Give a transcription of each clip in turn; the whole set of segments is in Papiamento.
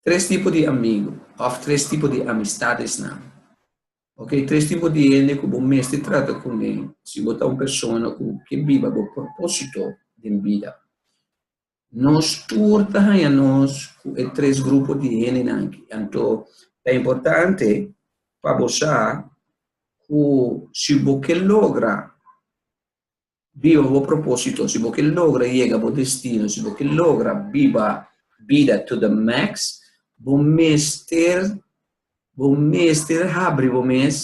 Tres tipo di amigo of tres tipo di amistadesnan. Okay, tres tipo di hende cu bo mester trata cu ne si bo ta un persona cu ke biba bo proposito den bida. Nos tur ta haña nos ku e tres grupo di hendenan aki. Anto ta importante pa bo sa ku si bo ke logra biba bo propósito, si bo ke logra yega bo destino, si bo ke logra biba bida to the max, bo mester bo mester habri bo mes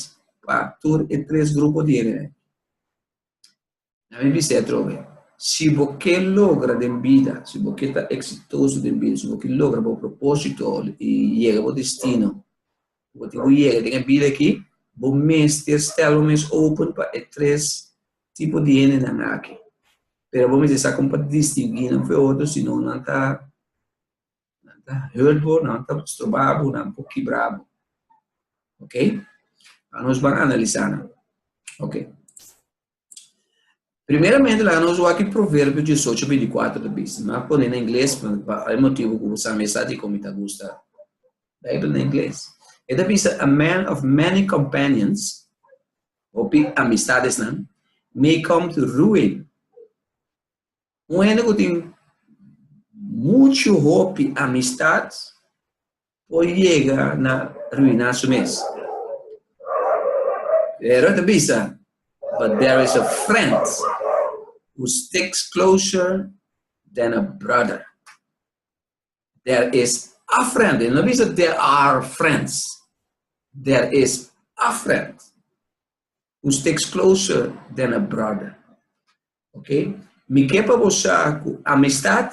pa tur e tres grupo di hendenan. Na mi bisa atrobe, si bo ke logra den bida, si bo ke ta eksitoso den bida, si bo ke logra bo propósito i yega bo destino ku bo tin ku yega den e bida akí, bo mester stèl bo mes open pa e tres tipo di hendenan akí. Pero bo mester sa kon pa distinguí nan fu e otro sinon nan ta nan ta hurt bo, nan ta stroba bo, nan por kibra bo. Ok? Anos ban analisá nan. Ok. Primeramente laga nos wak e Proverbio diesocho binticuatro ta bisa. No a pone na ingles pa hay motibu cu bo sa mi esaki con mi ta gusta Bijbel na ingles. E ta bisa, A man of many companions, hopi amistadesnan, may come to ruin. Un hende cu tin muchu hopi amistad Por yega na ruina su mes. Pero e ta bisa, But there is a friend who sticks closer than a brother. There is a friend. E no bisa there are friends. There is a friend. un sticks closer than a brother. Ok? Mi ke pa bo sa ku amistad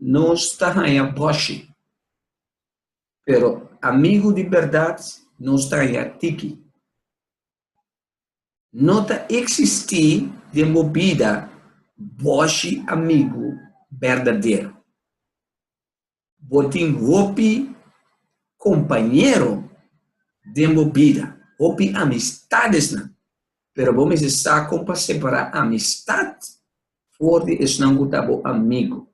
no sta haña boshi. Pero amigu di berdad no sta haña tiki. No ta eksistí den bo bida boshi amigu berdadero. Bo tin hopi kompañero den bo bida, hopi amistadesnan, pero bo mester sa kon pa separá amistat for di esnan ku ta bo amigu.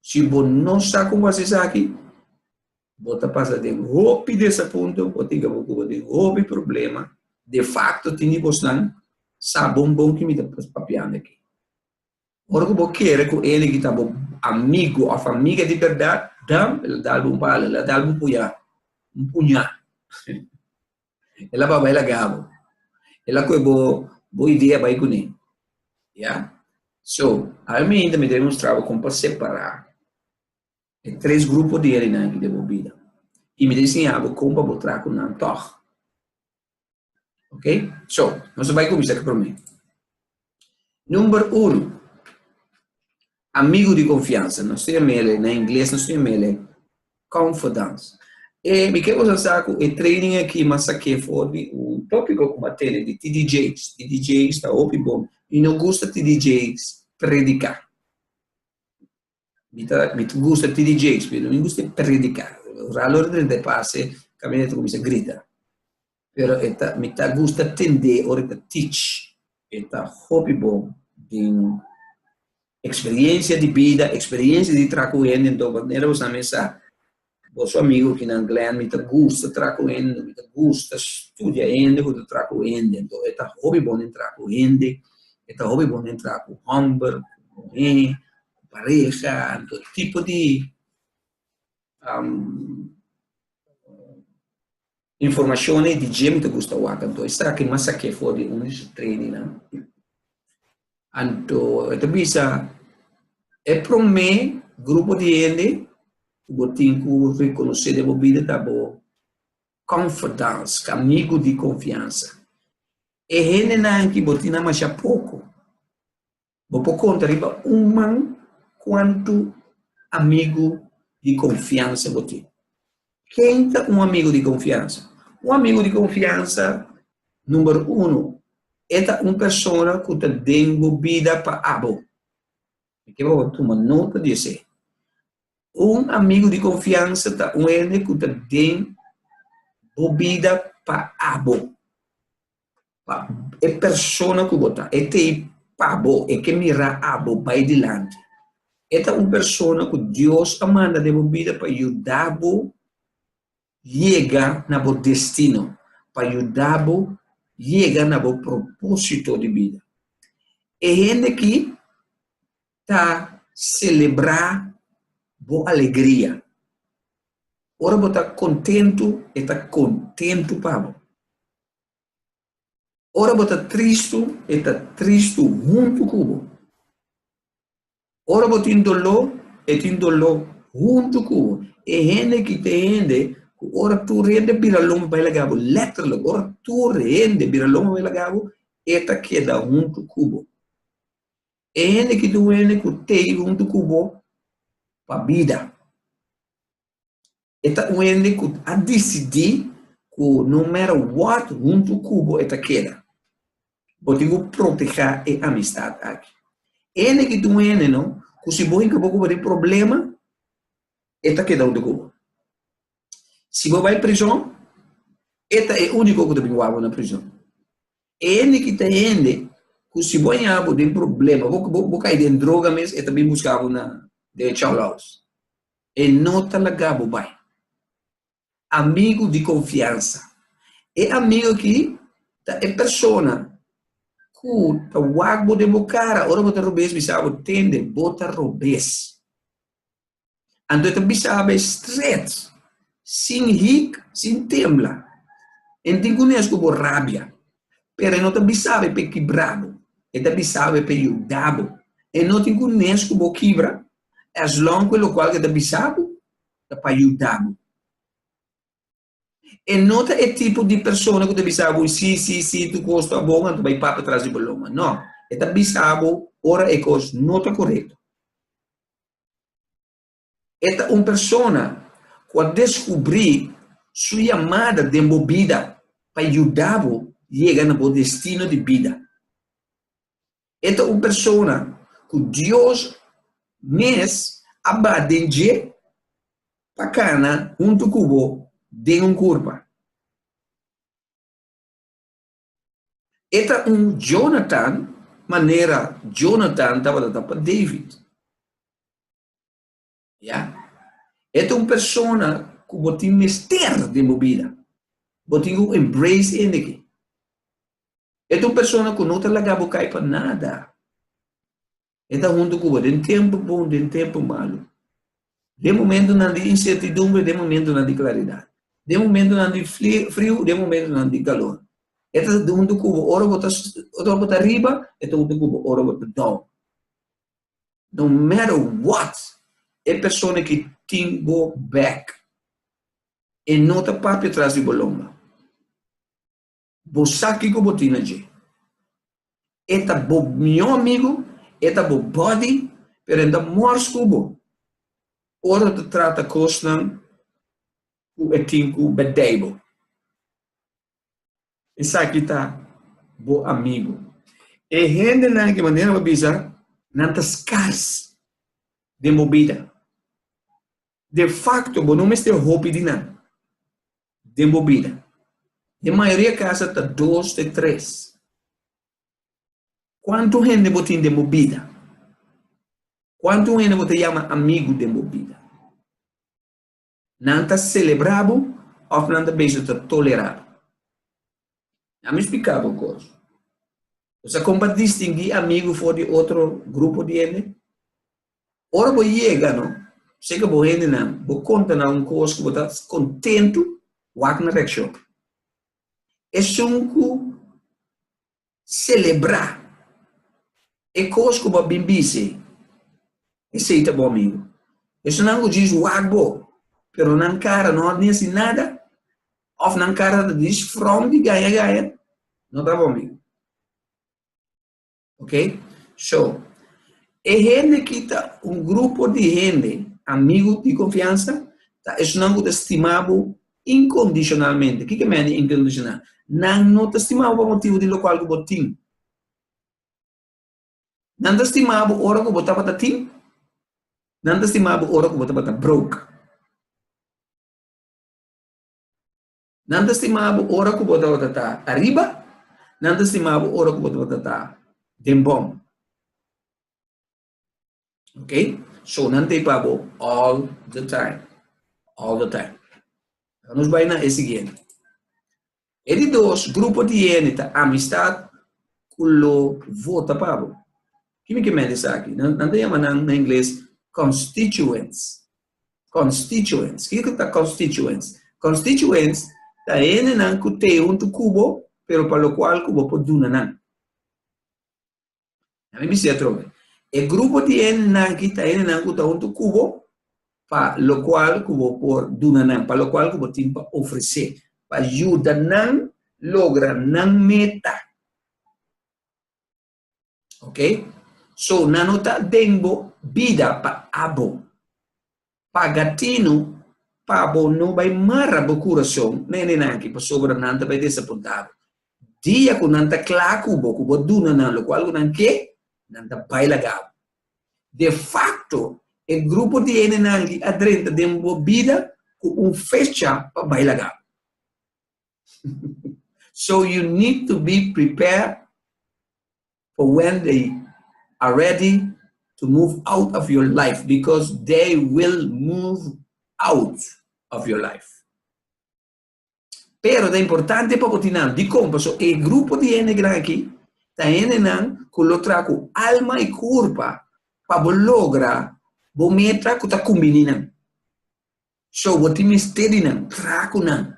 Si bo no sa kon pa hasi esaki, bo ta pasa den hopi desapunto, bo tin ke ocupa den hopi problema, defakto tin di bosnan sa bon bon ke mi ta papiando aki. Ora ku bo kere ku e ligi ta bo amigu òf amiga di bèrdat, dam el a dalbo un pala, el a dalbo un puyá, un puñá. El a bai laga bo. El a kohe bo bo idea bai kuné. Ya. So, al mi hinter mi demonstrá bo kon pa separá e tres grupo di hendenan aki den bo bida. I mi ta insiña bo kon pa bo traha ku nan tòg. Ok? So, nos a bai kuminsá ku promé. Number uno, amigu di konfiansa. Nos ta yam'é elei, na ingles nos ta yam'é elei confidants. E mi ke boso sa ku e training akí m'a sak'é for di un tópiko ku m'a tene di ti DJ's. Ti DJ's ta hopi bon i no gusta ti DJ's prediká. Mi ta, mi gusta ti di Jakes, pero mi gusta predicá. Ralo ora drenta e pase, caminda e ta cuminsa grita. Pero e ta, mi ta gusta tende ora e ta teach. E ta hopi bon den experiencia di bida, experiencia di traha cu hende. Enton manera bo sabi sa, Boso amigu kinan Glenn, mi ta gusta traha ku hende, mi ta gusta studia hende ku ta traha ku hende. Anto e ta hopi bon den traha ku hende, e ta hopi bon den traha ku hòmber, ku muhé, ku pareha, anto e tipo di Informashon ei di dje mi ta gusta wak anto esaki mi a sak'é for di un di su trainingnan. Anto e ta bisa, E promé grupo di hende ku bo tin ku rekonosé den bo bida ta bo confidants, amigu di konfiansa. E hendenan ki bo tin nan masha poko, Bo por konta riba un man kuantu amigu di konfiansa bo tin. Ken ta un amigu di konfiansa? Un amigu di konfiansa, number uno, e ta un persona ku ta den bo bida pa abo. Mi ker bo tuma nota di esei. Un amigu di konfiansa ta un hende ku ta den bo bida pa abo. pa e persona ku bo ta. E ta ei pa bo, e ke mira abo bai dilanti. E ta un persona ku Dios a manda den bo bida pa yuda bo yega na bo destino, pa yuda bo yega na bo propósito di bida. E hende aki ta selebrá bo alegria. Ora bo ta kontentu, e ta kontentu pa bo. Ora bo ta tristu, e ta tristu huntu ku bo. Ora bo tin doló, e tin doló huntu ku bo. E hende ki ta hende ku ora tur hende bira loma bai laga bo, lèterlik, ora tur hende bira loma bai laga bo, e ta keda huntu ku bo. E hende ki ta wende ku t'ei huntu ku bo pa bida. E ta un hende cu a dicidi cu no matter what hunto cu bo e ta keda. Bo tin cu proteha e amistad aki. E hende aki ta un hende no cu si bo hinca bo cu bo den problema e ta keda hunto cu bo. Si bo bay prison e ta e unico cu ta bin wawbo na prison. E hende aki ta hende cu si bo yaha bo den problema, bo cay den droga mes e ta bin buscabo na den Charlouse. E no ta laga bo bai. Amigu di konfiansa. E amigu aki ta e persona ku ta wak bo den bo kara ora bo ta robes bisa bo, Tende, bo ta robes. Anto e ta bisa bo strèt, sin hik, sin tembla. E no tin ku nes ku bo rabia, pero e no ta bisa bo e pe kibra bo, e ta bisa bo e pe yuda bo. E no tin ku nes ku bo kibra, eslon cu locual cu e ta bisa bo ta pa yuda bo. E no ta e tipo di persona cu ta bisa bo si, si, si tu cos ta bon anto bai papia tras di bo loma. No, e ta bisa bo ora e cos no ta corecto. E ta un persona cu a descubri su yamada den bo bida pa yuda bo yega na bo destino di bida. E ta un persona ku Dios mes a bat den dje pa kana huntu ku bo den un kurpa. E ta un Jonatan manera Jonatan tabata ta pa David. Ya? E ta un persona cu bo tin mester den bo bida. Bo tin cu embrace ende aki. E ta un persona cu no ta laga bo cay pa nada. E ta hunto cu bo den tempo bon, den tempo malo. Den momentonan di incertidumbre, den momentonan di claridad. Den momentonan di friu, den momentonan di calor. E ta hunto cu bo ora bo ta, ora bo ta riba, e ta hunto cu bo ora bo ta down. No matter what, e persona ki tin bo bek, e no ta papia tras di bo lomba. Bo sa kiko bo tin na dje. E ta bo mihó amigu, e ta bo buddy, pero e no ta mors ku bo ora ta trata kosnan ku e tin ku bèdèi bo. Esaki ta bo amigu. E hendenan ku manera bo bisa nan ta skars den bo bida. De fakto bo no mester hopi di nan den bo bida. Den mayoria kasa ta dos te tres. Kuantu hende bo tin den bo bida? Kuantu hende bo ta yama amigu den bo bida? Nan ta celebra bo of nan ta beso ta tolera bo? Nan mi explica bo cos. Bo sa con pa distingui amigo for di otro grupo di hende? Ora bo yega no seca bo hendenan bo conta nan un cos cu bo ta contento wak nan reaccion. Esun cu selebrá e kos ku bo a bin bis'é, esei ta bo amigu. Personanan ku djis wak bo, pero nan kara no a mesti nada òf nan kara ta djis frònt di gaña gaña, no ta bo amigu. Oke? So, e hende ki ta un grupo di hende, amigu di konfiansa, ta esunnan ku ta stima bo Incondicionalmente. Kiko mester di incondicional? Nan no ta stima bo pa motibu di locual cu bo tin. Nan ta stima bo ora cu bo tabata tin. Nan ta stima bo ora cu bo tabata broke. Nan ta stima bo ora cu bo tabata ta ariba. Nan ta stima bo ora cu bo tabata ta den bon. Ok? So, nan ta ipa bo all the time. All the time. Ahora nos bai na e siguiente. E di dos grupo di hende ta amistad cu lo vota pa bo. Kimi ke mende esaki? Nan, nan ta yama nan na ingles constituents. Constituents. Kiko ku ta constituents? Constituents ta hendenan ku te huntu ku bo, pero pa lokual ku bo por duna nan. A mi bisé atrobe, e grupo di hendenan-ki ta hendenan ku ta huntu ku bo, pa lokual ku bo por duna nan, pa lokual ku bo tin pa ofresé, pa yuda nan logra nan meta. Oke, so nan no ta den bo bida pa abo. paga tinu pa bo no bai mara bo kurason na hendenan aki, pasobra nan ta bai desapuntadu. Dia ku nan ta kla ku bo ku bo a duna nan lokual ku nan ke, nan ta bai laga bo. Defakto, e grupo di hendenan aki a drenta den bo bida ku un fecha pa bai laga bo. So you need to be prepared for when they are ready to move out of your life because they will move out of your life. Pero ta importante pa bo tin nan dikon paso e grupo di hende gran aki ta hendenan ku lo traha ku alma i kurpa pa bo logra bo meta ku ta kumbiní nan. So bo tin mester di nan traha ku nan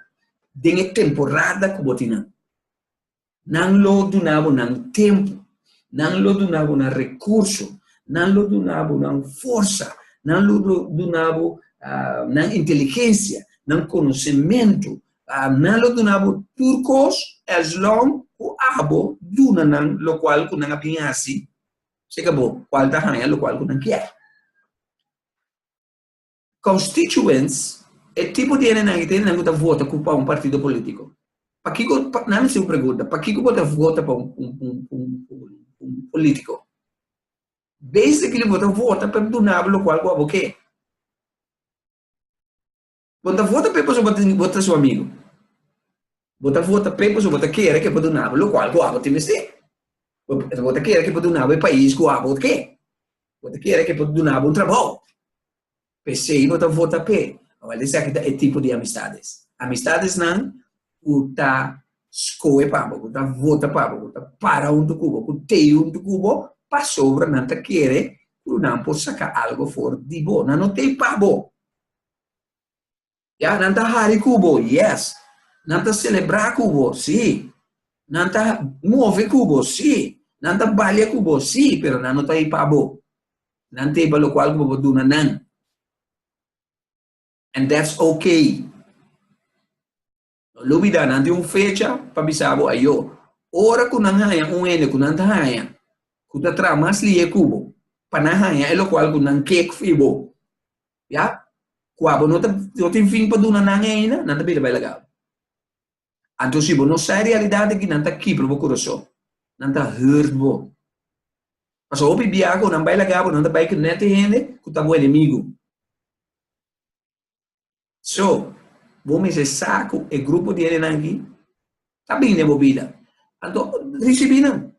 den e temporada ku bo tin nan. Nan lo duna bo nan tempu, nan lo duna bo nan rekurso, nan lo duna bo nan forsa, nan lo duna bo nan inteligensia, nan konosementu, nan lo duna bo tur kos eslon ku abo duna nan lokual ku nan a bin hasi, seka bo kual ta haña lokual ku nan kier. Constituents, e tipo di hendenan i ta hendenan ku ta vota ku pa un partido politico. Pakiko, nan hasi un pregunta, pakiko bo ta vota pa un politico? Basically bo ta vota pa e dunabo lokual ku abo ke. Bo no ta vota p'e pasobra bo tin, bo ta su amigo. Bo ta vota p'e pasobra bo ta kere ke bo dunabo lokual ku abo tin mester. Bo ta kere ke bo dunabo e pais ku abo ke. Bo ta kere ke por dunabo un trabou. P'esei bo ta vota p'e. Awor, esaki ta e tipo di amistades. Amistadesnan ku ta skohe pa bo, ku ta vota pa bo, ku ta para huntu ku bo, ku tei huntu ku bo pasobra nan ta kere ku nan por saka algu for di bo. Nan no tei pa bo. Ya, nan ta hari ku bo, yes. Nan ta selebrá ku bo, sí. Nan ta move ku bo, sí. Nan ta balia ku bo, sí, pero nan no ta ei pa bo. Nan ta ei pa lokual ku bo por duna nan. And that's okay. No lubida nan tin un fecha pa bisa bo ayo. Ora ku nan haña un hende ku nan ta haña ku ta traha mas lihé ku bo pa nan haña e lokual ku nan ke fi bo, ya kua bo no ta no tin fin pa duna nan e ainda, nan ta bira bai laga bo. Anto si bo no sa e realidat aki nan ta kibra bo kurason, nan ta hurt bo. Pasobra hopi biaha ku nan bai laga bo nan ta bai ku nèt e hende ku ta bo enemigu. So, bo mester sa cu e grupo di hendenan aki ta bini den bo bida. Anto, ricibi nan.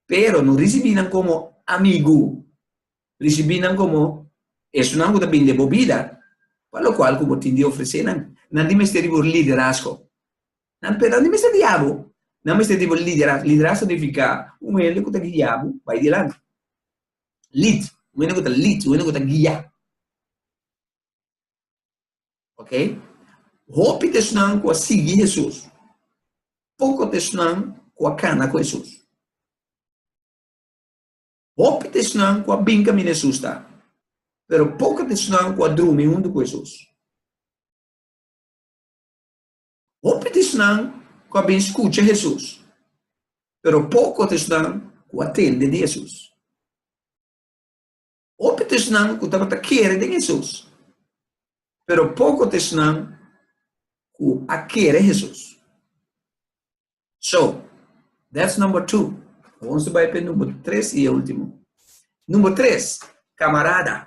Pero no ricibi nan como amigu. Ricibi nan como esunnan cu ta bini den bo bida pa locual cu bo tin di ofrece nan. Nan tin mester di bo liderazgo. Nan pero nan tin mester guia bo. Nan mester di bo liderazgo. Liderazgo significa un hende cu ta guia bo bay dilanti. Lead, un hende ku ta lead, un hende ku ta guia. Ok, hopi ta esnan ku a sigui Hesus, poko ta esnan ku a kana ku Hesus. Hopi ta esnan ku a bin kaminda Hesus ta, pero poko ta esnan ku a drumi huntu ku Hesus. Hopi di esnan ku a bin skucha Hesus, pero poko di esnan ku a tende di Hesus. Hopi di esnan ku tabata kere den Hesus, pero poko di esnan ku a kere Hesus. So, that's number two. Awor nos ta bai pa e number tres i e ultimo. Number tres, kamarada.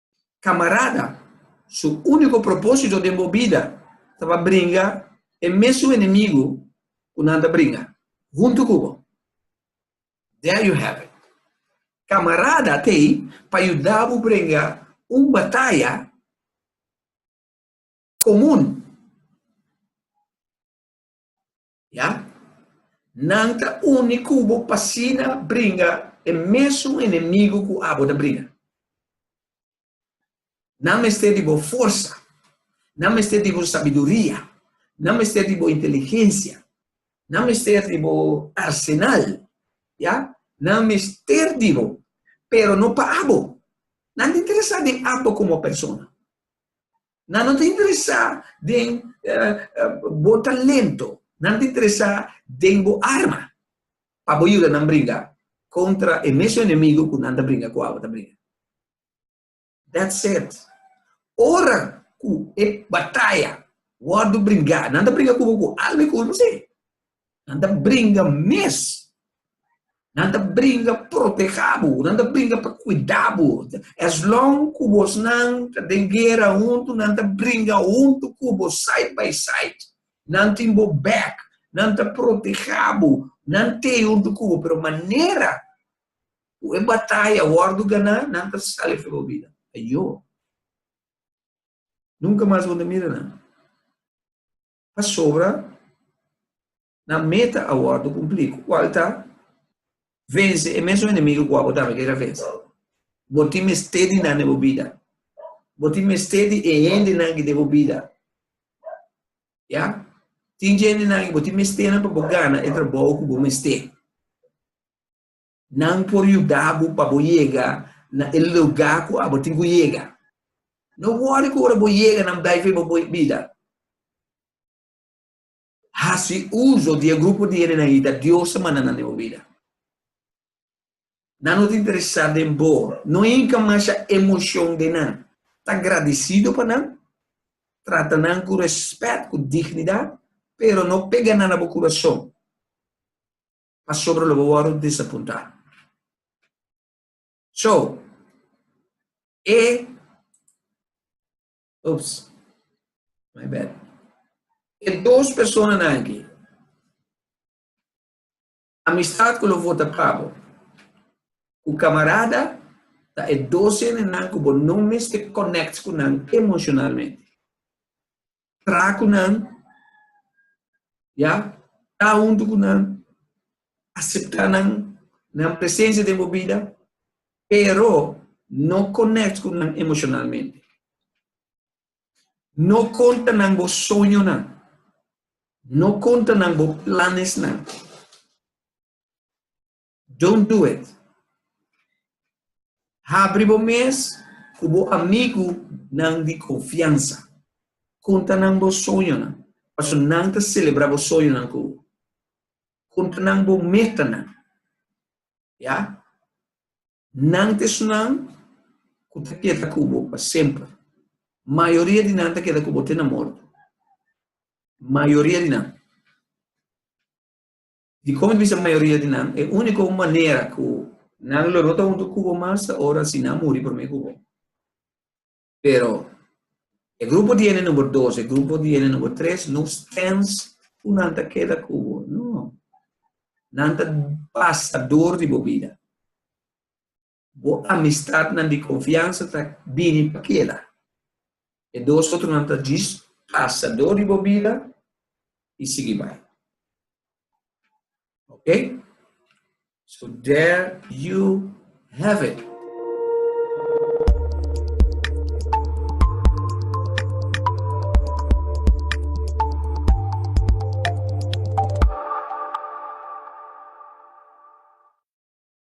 camarada, su unico propósito den bo bida ta pa bringa e mesun enemigo cu nan ta bringa hunto cu bo. There you have it. Camarada ta ey pa yuda bo bringa un bataya comun. Ya? Nan ta uni ku bo p'asina bringa e mesun enemigu ku abo ta bringa. Nan mester di bo forsa, nan mester di bo sabiduria, nan mester di bo inteligensia, nan mester di bo arsenal, ya, nan mester di bo, pero no pa abo. Nan ta interesá den abo komo persona. Nan no ta interesá den bo talento. Nan ta interesá den bo arma pa bo yuda nan bringa kontra e mesun enemigu ku nan ta bringa ku abo ta bringa. That said, ora ku e bataya wòrdu bringá, nan ta bringa ku bo ku alma i ku ulma? Sí. Nan ta bringa mes. Nan ta bringa proteha bo. Nan ta bringa pa kuida bo. As long ku bosnan ta den guera huntu, nan ta bringa huntu ku bo, side by side. Nan tin bo bek. Nan ta proteha bo. Nan t'e huntu ku bo. Pero manera ku e bataya a wòrdu ganá, nan ta sali afia bo bida. Ayo! Nunka mas bo no ta mira nan. pasobra nan meta a wòrdu kumplí. Kual ta? Vense e mesun enemigu ku abo tambe kira vense. Bo tin mester di nan den bo bida. Bo tin mester di e hendenan ki den bo bida. Ya? Tin dje hendenan ku bo tin mesternan pa bo gana e trabou ku bo mester. Nan por yuda bo pa bo yega na e luga ku abo tin ku yega. No wòri ku ora bo yega nan bai fe bo bida. Hasi uso di e grupo di hendenan ei ta Dios a manda nan den bo bida. Nan no ta interesá den bo. No hinka masha emoshon den nan. Ta gradisido pa nan. Trata nan ku rèspèt, ku dignidat, pero no pega nan na bo kurason. pasobra lo bo wòrdu disapuntá. So, e, ups, my bad, e dos personanan aki, amistat ku lo vota pa bo ku kamarada ta e dos hende nan ku bo no mester konèkt ku nan emoshonalmente. tra cu nan, ya, ta huntu cu nan, acepta nan, nan presencia den bo bida, pero no connect cu nan emocionalmente. No conta nan bo soñonan, no conta nan bo planesnan. Don't do it. Habri bo mes ku bo amigunan di konfiansa. Konta nan bo soñonan, pasobra nan ta selebrá bo soñonan ku bo. Konta nan bo metanan. Ya? Nan ta esunnan ku ta keda ku bo pa semper. Mayoria di nan ta keda ku bo te na morto. Mayoria di nan. Dikon bisa mayoria di nan, e úniko manera ku nan lo no ta huntu ku bo mas ta ora si nan muri promé ku bo. Pero e grupo di hende number dos, e grupo di hende number tres no stens ku nan ta keda ku bo, no. Nan ta basta dor di bo bida. Bo amistatnan di konfiansa ta bini pa keda. E dos otronan ta djis pasadó di bo bida i sigui bai. Oke? So there you have it.